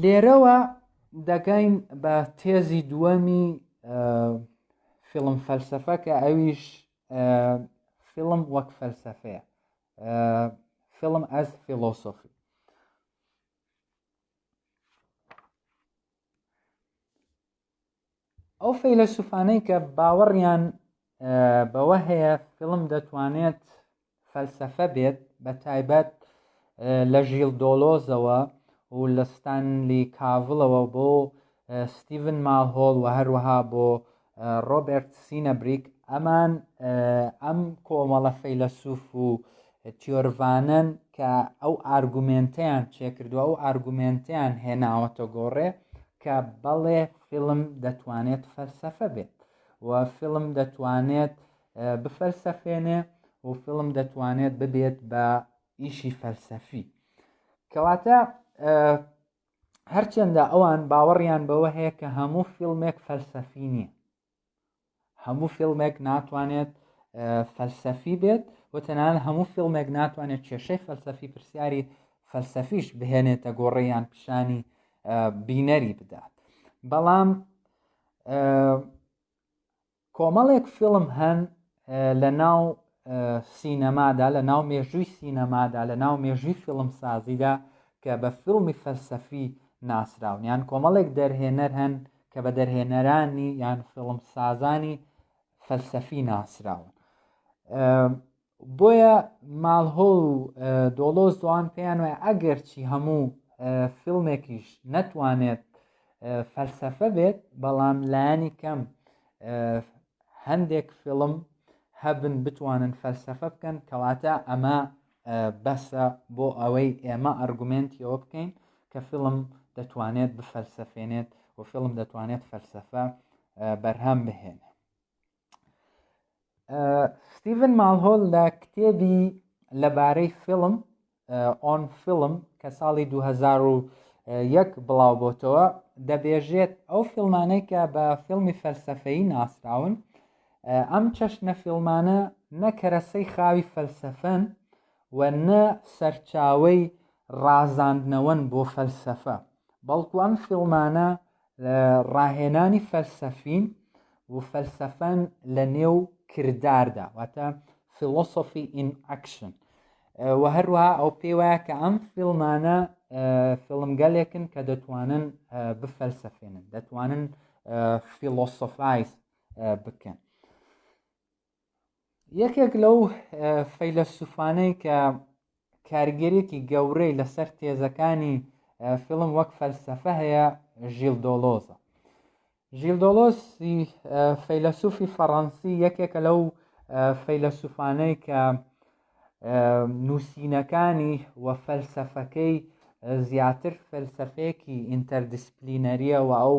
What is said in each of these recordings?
لێرەوە دەگەین بە تێزی دووەمی فیلم فەلسەفە کە ئەویش فیلم وەک فەلسەفەیە فیلم ئەز فیلۆسۆفی ئەو فەیلەسوفانەی کە باوەڕیان بەوە هەیە فیلم دەتوانێت فەلسەفە بێت، بە تایبەت لە ژیل دۆلۆزەوە و لە ستانلی کاڤڵەوە بۆ ستیڤن مالهۆڵ و هەروەها بۆ ڕۆبێرت سینەبریک ئەمان ئەم کۆمەڵە فەیلەسوف و تیۆرڤانەن کە ئەو ئارگومێنتیان چێکردووە ئەو ئارگومێنتیان هێناوەتە گۆڕێ کە بەڵێ فیلم دەتوانێت فەلسەفە بێت و فیلم دەتوانێت بفەلسەفێنێ و فیلم دەتوانێت ببێت بە ئیشی فەلسەفی کەواتە هەرچەندە ئەوان باوەڕیان بەوە هەیە کە هەموو فیلمێک فەلسەفی نییە هەموو فیلمێک ناتوانێت فەلسەفی بێت و تەنان هەموو فیلمێک ناتوانێت کێشەی فەلسەفی پرسیاری فەلسەفیش بهێنێتە گۆڕیان پیشانی بینەری بدات بەڵام کۆمەڵێک فیلم هەن لە ناو سینەمادا لە ناو مێژووی سینەمادا لە ناو مێژووی فیلم سازیدا کە بە فیلمی فەلسەفی ناسراون یان کۆمەڵێک دەرهێنەر هەن کە بە دەرهێنەرانی یان فیلم سازانی فەلسەفی ناسراون بۆیە مالهۆڵ و دۆڵۆز دۆان پێیان وایە ئەگەرچی هەموو فیلمێکیش نەتوانێت فەلسەفە بێت بەڵام لایەنی کەم هەندێک فیلم هەبن بتوانن فەلسەفە بکەن کەواتە ئەمە بەسە بۆ ئەوەی ئێمە ئەرگومنتیەوە بکەین کە فیلم دەتوانێت بفەلسەفێنێت و فیلم دەتوانێت فەلسەفە بەرهەم بهێنێت ستیڤن ماڵهۆل لە کتێبی لەبارەی فیلم ئۆن فیلم کە ساڵی 2001 بڵاو بۆتەوە دەبێژێت ئەو فیلمانەی کە بە فیلمی فەلسفەی ناسراون ئەم چەشنە فیلمانە نەکەرەسەی خاوی فەلسفەن و نە سەرچاوی ڕازاندنەوەن بۆ فەلسفە بەڵکو ئەم فیلمانە لە ڕاهێنانی فەلسەفین و فەلسەفەن لە نێو کرداردا واتە فیلۆسۆفی ئین ئەکشن و هەروە ئەو پێی وایە کە ئەم فیلمانە فیلمگەلێکن کە دەتوانن بفەلسەفێنن دەتوانن فیلۆسۆفایز بکەن یەکێک لەو فەیلەسوفانەی کە کارگەرێکی گەورەی لەسەر تێزەکانی فیلم وەک فەلسەفە هەیە ژیل دۆلۆزە ژیل دۆلۆس فەیلەسوفی فەڕەنسی یەکێکە لەو فەیلەسوفانەی کە نووسینەکانی و فەلسەفەکەی زیاتر فەلسەفەیەکی ئینتەردیسپلینەریە و ئەو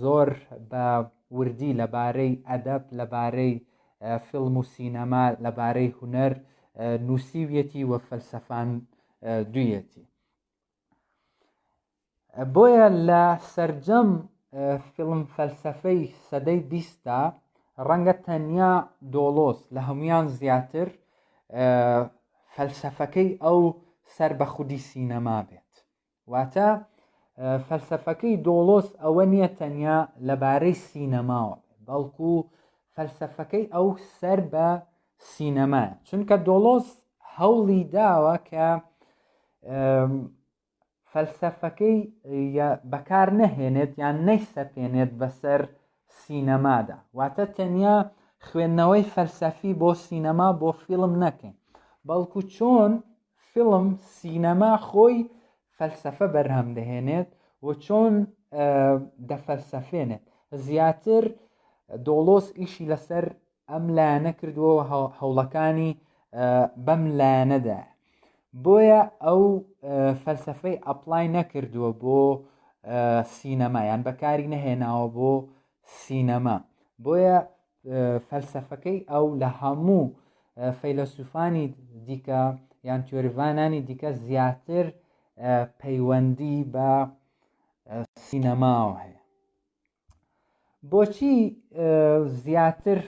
زۆر بە وردی لەبارەی ئەدەب لەبارەی فیلم و سینەما لەبارەی هوەر نووسیویەتی و فەلسەفان دویەتی بۆیە لە سەرجەم فیلم فەلسفەی سەدەی بیستا ڕەنگە تەنیا دۆڵۆس لە هەمویان زیاتر فەلسفەکەی ئەو سەر بە خودی سینەما بێت واتە فەلسفەکەی دۆڵۆس ئەوە نییە تەنیا لەبارەی سینەماوە بەڵکو فەلسفەکەی ئەو سەر بە سینەما چونکە دۆڵۆس هەوڵی داوە کە فەلسەفەکەی بەکار نەهێنێت یان نەیسەپێنێت بەسەر سینەمادا واتە تەنیا خوێندنەوەی فەلسەفی بۆ سینەما بۆ فیلم نەکەین بەڵکو چۆن فیلم سینەما خۆی فەلسەفە بەرهەم دەهێنێت و چۆن دەفەلسەفێنێت زیاتر دۆڵۆس ئیشی لەسەر ئەم لایەنە کردووە و هەوڵەکانی بەم لایەنەدا بۆیە ئەو فەلسفەی ئەپلای نەکردووە بۆ سینەما یان بەکاری نەهێناوە بۆ سینەما بۆیە فەلسفەکەی ئەو لە هەموو فەیلەسوفانی دیکە یان تیۆریڤانانی دیکە زیاتر پەیوەندی بە سینەماوە هەیە بۆچی زیاتر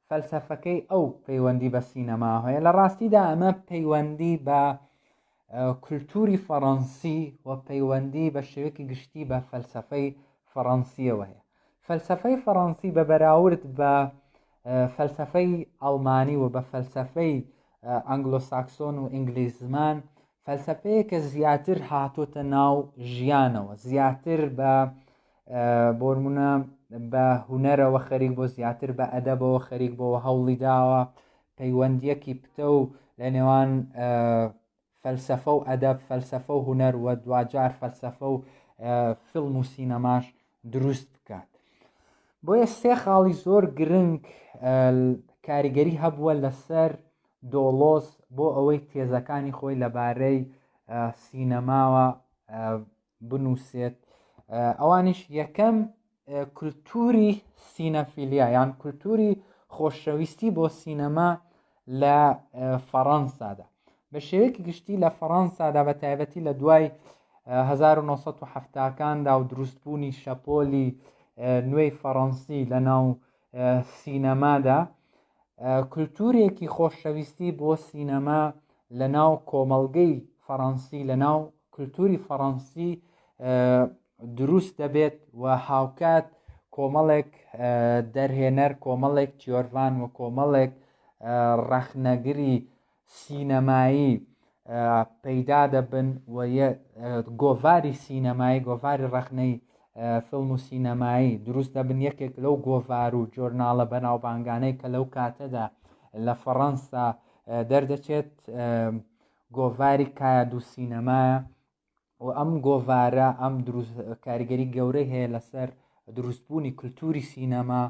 فەلسەفەکەی ئەو پەیوەندی بە سینەما هەیە لە ڕاستیدا ئەمە پەیوەندی بە کولتوری فەڕەنسی و پەیوەندی بە شێوەیەکی گشتی بە فەلسەفەی فەڕەنسیەوە هەیە فەلسەفەی فەڕەنسی بە بەراورد بە فەلسەفەی ئەڵمانی و بە فەلسەفەی ئەنگلۆساکسۆن و ئینگلیز زمان فەلسەفەیە کە زیاتر هاتۆتە ناو ژیانەوە زیاتر بە بۆرمونە بە هوەرەوە خەریک بۆ زیاتر بە ئەدەبەوە خەریک بۆ هەوڵی داوە پەیوەندیەکی پتە و لە نێوان فەلسەفە و ئەدەب فەلسەفە و هوەر وە دواجار فەلسەفە و فیلم و سینەماش دروست بکات بۆیە سێ خاڵی زۆر گرنگ کاریگەری هەبووە لەسەر دۆڵۆز بۆ ئەوەی تێزەکانی خۆی لەبارەی سینەماوە بنووسێت ئەوانیش یەکەم کولتوری سینەفیلیا یان کولتوری خۆشەویستی بۆ سینەما لە فەڕەنسادا بە شێوەیەکی گشتی لە فەڕەنسادا بە تایبەتی لە دوای 1970کاندا و دروستبوونی شەپۆلی نوێی فەڕەنسی لە ناو سینەمادا، کولتوورێکی خۆشەویستی بۆ سینەما لە ناو کۆمەڵگەی فەڕەنسی لە ناو کولتووری فەڕەنسی دروست دەبێت و هاوکات کۆمەڵێک دەرهێنەر کۆمەڵێک تیۆرڤان و کۆمەڵێک ڕەخنەگری سینەمایی پەیدا دەبن و گۆڤاری سینەمایی گۆڤاری ڕەخنەی فیلم و سینەمایی دروست دەبن یەکێک لەو گۆڤار و جۆرناڵە بەناوبانگانەی کە لەو کاتەدا لە فەڕەنسا دەردەچێت گۆڤاری کایاد و سینەمایە و ئەم گۆڤارە ئەم کاریگەری گەورەی هەیە لەسەر دروستبوونی کللتوری سینەما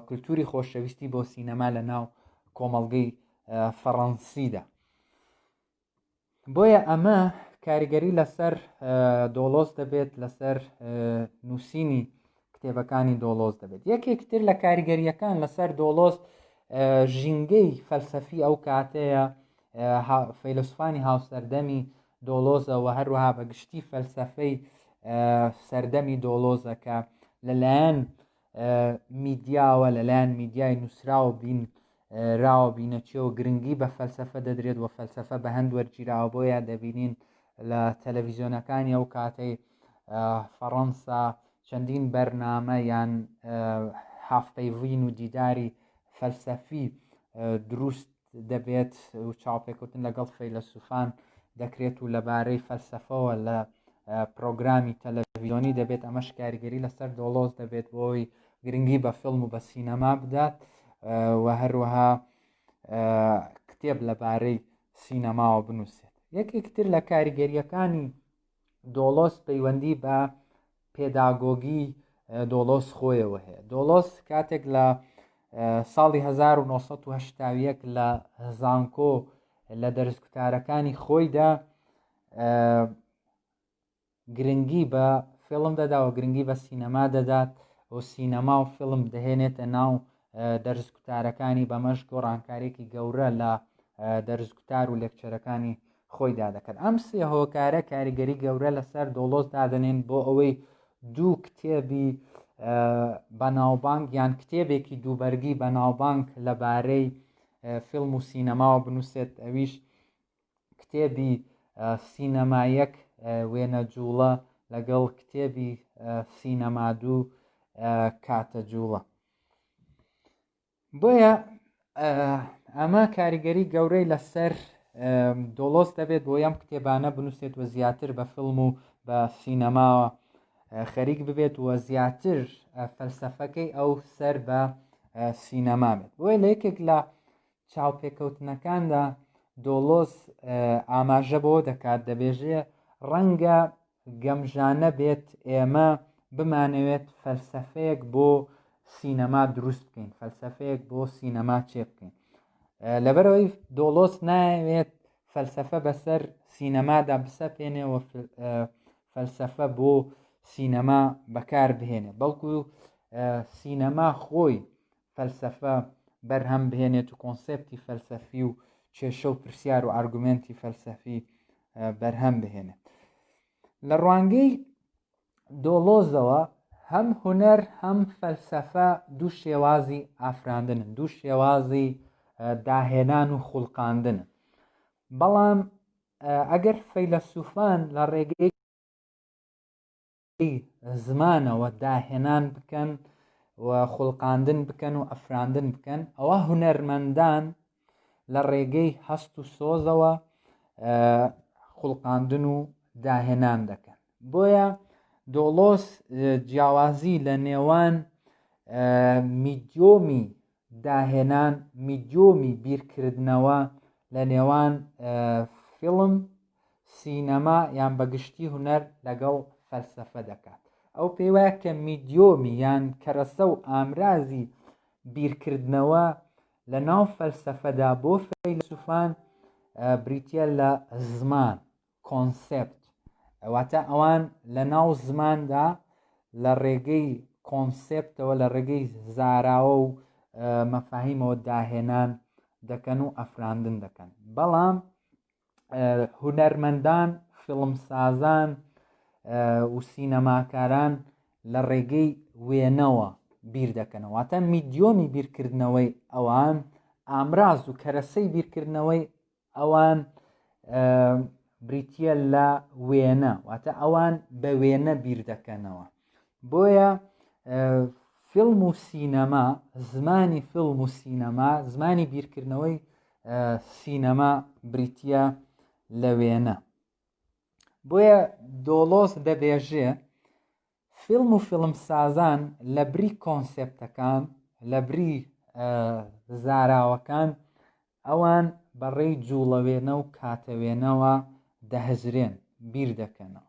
کللتوری خۆشەویستی بۆ سینەما لە ناو کۆمەڵگەی فەڕەنسیدا بۆیە ئەمە کاریگەری لەسەر دۆڵۆس دەبێت لەسەر نووسینی کتێبەکانی دۆڵۆس دەبێت یەکێک تر لە کاریگەریەکان لەسەر دۆڵۆس ژینگەی فەلسەفی ئەو کاتەیە فەیلسوفانی هاوسەردەمی دۆڵۆزە و هەروەها بە گشتی فەلسەفەی سەردەمی دۆڵۆزە کە لەلایەن میدیاوە لەلایەن میدیای نووسراوە بین راوە بینەچێ و گرنگی بە فەلسەفە دەدرێت و فەلسەفە بە هەند وەرگیراوە بۆیە دەبینین لە تەلەڤیزیۆنەکانی ئەو کاتەی فەڕەنسا چەندین بەرنامە یان هافتەیڤین و دیداری فەلسەفی دروست دەبێت و چاوپێکوتن لەگەڵ فەیلەسوفان دەکرێت و لەبارەی فەلسەفەوە لە پرۆگرامی تەلەڤیزیۆنی دەبێت ئەمەش کاریگەری لەسەر دۆڵۆز دەبێت بۆی گرنگی بە فیلم و بە سینەما بدات و هەروەها کتێب لەبارەی سینەماوە بنووسێت یەکێکتر لە کاریگەریەکانی دۆڵۆس پەیوەندی بە پێداگۆگی دۆڵۆس خۆیەوە هەیە دۆڵۆس کاتێک لە ساڵی 1970 لە زانکۆ لە دەرزکوتارەکانی خۆیدا گرنگی بە فیلم دەدا و گرنگی بە سینەما دەدات و سینەما و فیلم دەهێنێتە ناو دەرزکوتارەکانی بەمەش گۆڕانکارێکی گەورە لە دەرزکوتار و لێکچەرەکانی خۆیدا دەکەن ئەم سێ هۆکارە کاریگەری گەورە لەسەر دۆڵۆس دادنێن بۆ ئەوەی دوو کتێبی بەناوبانگ یان کتێبێکی دووبەرگی بەناوبانگ لەبارەی فیلم و سینەماوە بنووسێت ئەویش کتێبی سینەما یەک وێنە جووڵە لەگەڵ کتێبی سینەما دوو کاتە جووڵە بۆیە ئەمە کاریگەری گەورەی لەسەر دۆڵۆس دەبێت بۆ یەم کتێبانە بنووسێت و زیاتر بە فیلم و بە سینەماوە خەریک ببێت وە زیاتر فەلسەفەکەی ئەو سەر بە سینەما بێت بۆیە لە یەکێک لە چاوپێکەوتنەکاندا دۆڵۆز ئاماژە بەوە دەکات دەبێژێ ڕەنگە گەمژانە بێت ئێمە بمانەوێت فەلسەفەیەک بۆ سینەما دروست بکەین فەلسەفەیەک بۆ سینەما چێ بکەین لەبەرەوەی دۆڵۆس ناوێت فەلسەفە بەسەر سینەمادا بسەپێنێ و فەلسەفە بۆ سینەما بەکار بهێنێ بەڵکو سینەما خۆی فەلسەفە بەرهەم بهێنێت و کۆنسێپتی فەلسەفی و کێشە و پرسیار و ئارگومێنتی فەلسەفی بەرهەم بهێنێت لە ڕوانگەی دۆڵۆزەوە هەم هوەر هەم فەلسەفە دوو شێوازی ئافراندنن دوو شێوازی داهێنان و خوڵقاندن بەڵام ئەگەر فەیلەسوفان لە ڕێگەی زمانەوە داهێنان بکەن و خوڵقاندن بکەن و ئەفراندن بکەن ئەوە هونەرمەندان لە ڕێگەی هەست و سۆزەوە خوڵقاندن و داهێنان دەکەن بۆیە دۆڵۆس جیاوازی لە نێوان میدیۆمی داهێنان میدیۆمی بیرکردنەوە لە نێوان فیلم، سینەما یان بە گشتی هونەر لەگەڵ فەلسەفە دەکات. ئەو پێی وایە کە میدیۆمی یان کەرەسە و ئامرازی بیرکردنەوە لە ناو فەلسەفەدا بۆ فەیلەسوفان بریتییە لە زمان، کۆنسێپت، واتە ئەوان لە ناو زماندا لە ڕێگەی کۆنسێپتەوە، لە ڕێگەی زاراوە و مەفاهیمەوە داهێنان دەکەن و ئەفراندن دەکەن بەڵام هونەرمەندان فیڵمسازان و سینەماکاران لە ڕێگەی وێنەوە بیر دەکەنەوە تا میدیۆمی بیرکردنەوەی ئەوان ئامراز و کەرەسەی بیرکردنەوەی ئەوان بریتە لە وێنە واتە ئەوان بە وێنە بیر دەکەنەوە بۆیە فیلم و سینەما زمانی فیلم و سینەما زمانی بیرکردنەوەی سینەما بریتە لە وێنە بۆیە دۆڵۆس دەبێژێ فیلم و فیلمسازان لە بری کۆنسێپتەکان لە بری زاراوەکان ئەوان بەڕێی جوڵەوێنە و کاتەوێنەوە دەهزرێن بیر دەکەنەوە